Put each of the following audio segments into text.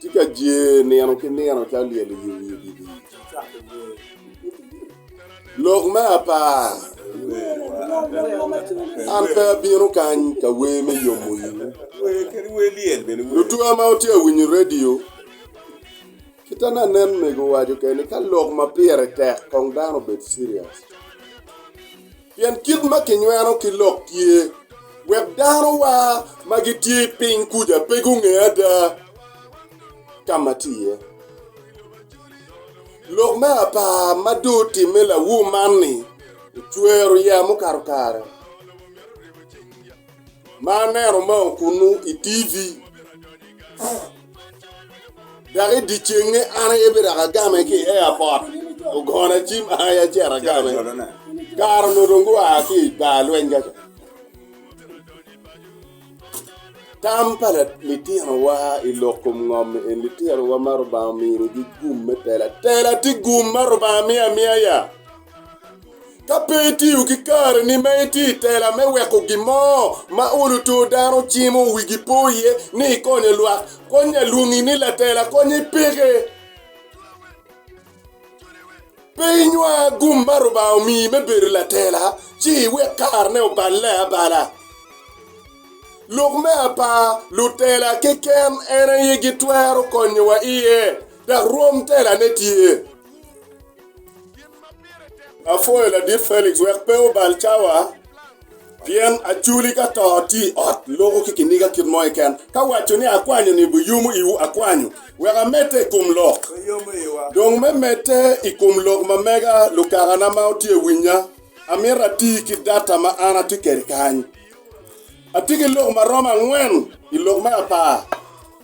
Tye ka jer nino ki nino calo lyel i wi odidi. Lok me apar, An pe abino kany ka wer me yomo iwu. Lutwa ma wutye ka winyo redio, kit ma anen mego owaco kene ni ka lok ma pire tek kong dano obed serious. Pien kit ma kinyweno ki lok tye, wek danowa ma gitye i piny kuca pe gunge ada ka ma tye iye. Lok me apar ma dong otimme lawu man-ni ocwero yeya mukato kare ma aneno mao kunnu i TV. Dok i dyecenge an aye bidok agame ki i eapot, ogona acim an aye acito agame. Kare onongo dong gua ki i bar lweny ka ca. Tam pa litinowa i lok kom ngom eni, litinowa ma Lubanga ominigi gum me telo atela tye gum ma Lubanga miyo amiya ya? Ka pe itiyo ki kareni ma itye i tela me weko gin mo ma olo tur dano cimo wigi po iye ni ikonyo lwak, konnya lwongi ni latela kony i peke. Pe inywa gum ma Rubanga omiyi me bedo latela ci iwek karene oballe abala. Lok me apar, Lutela keken en aye gitwero konyowa iye, dok rwom telane tye. Apwoyo ladit Felix wek pe obal cawa pien aculi ka to atye i ot loko ki kiniga kit mo keken. Ka waco ni akwanyo ni biyomo iwu, akwanyo wek amedde i kom lok. Dong me medde i kom lok ma mega lukakana ma wutye ka winya, amito ati ki data ma an atye kwede kany. Atye ki lok ma romo angwen i lok me apar.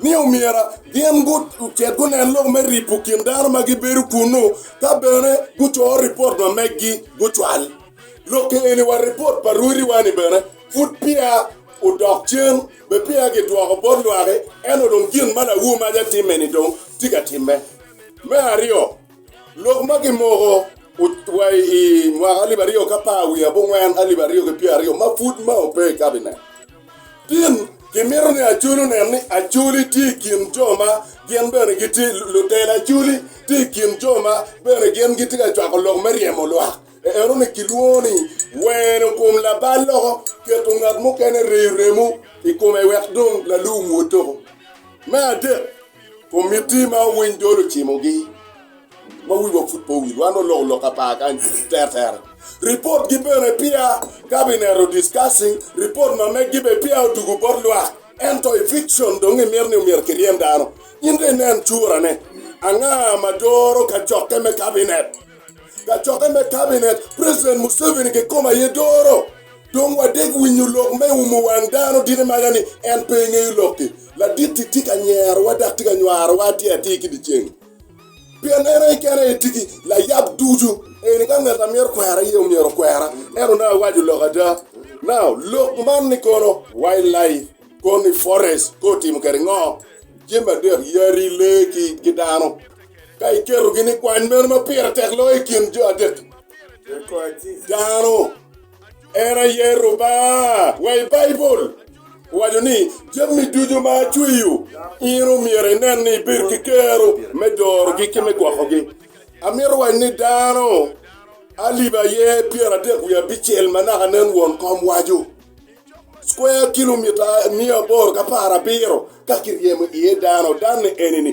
ni omyero gin gucit gunen lok me ripo kin dano ma gibedo kunnu ka bene gucor ripot ma megi gucwal. Lokke eni wa ripot pa rwodiwa-ni bene pud peya odok cen, be peya gidwoko bot lwaki, ento dong gin ma Lawu Maja timme-ni dong tye ka timme. Me aryo, Lok ma kimoko wa i mwaka alip aryo k'apar wiye abongwen alip aryo ki pyera aryo ma pud ma ope i kabinet. Tin, kimito ni Acoli onen ni Acoli tye i kin jo ma gin bene gitye lutela. Acoli tye i kin jo ma bene gin gitye ka cwako lok me ryemo lwak. Enoni kilwongo ni weno kom labal loko, keto ngat mukene reyo remo i kome wek dong lalum wotoko. Me adek, Kum miti ma winy dol ocimogi ma wiwa pud pe owil, wan oloko loka par kany teretere. Report gi bene peya cabinet o discussing report ma meg gi bene peya odugu bot lwak. Ento eviction dong imito ni omyero kiryem dano. In dong inen cura ne, anga ma doro ka cokke me cabinet? Kacokke me Kabinet, President Museveni kikome aye doro, Dong wadeg winyo lok me umo wang dano diki maga ni en pe engeyo lokki. Laditti tye ka nyerowa dok tye ka nywarowa atir atir ki dyeceng. Pien en aye kene aye tye ki layab ducu. Eni ka ngat a myero kwera aye omyero okwera. En onongo awaco lok ada. Now, lok man ni kono wildlife, koni forest, kotimo kede ngo? Jami adek, yadi, lee ki dano. Ka iketogi ni kwan meno ma pire tek loyo i kin jo adek-ki? Dano. En aye Rubanga. Wa i Baibul. Owaco ni, Jami ducu ma acweyo, in omyero inen ni ibed ki kero me dorogi ki me gwokogi. Amito waco ni dano alip aye pyeradek wiye abicel ma naka nen won kom waco, square kilomita miya aboro ki apar abiro ka kiryemo iye dano. Dan-ni eni-ni.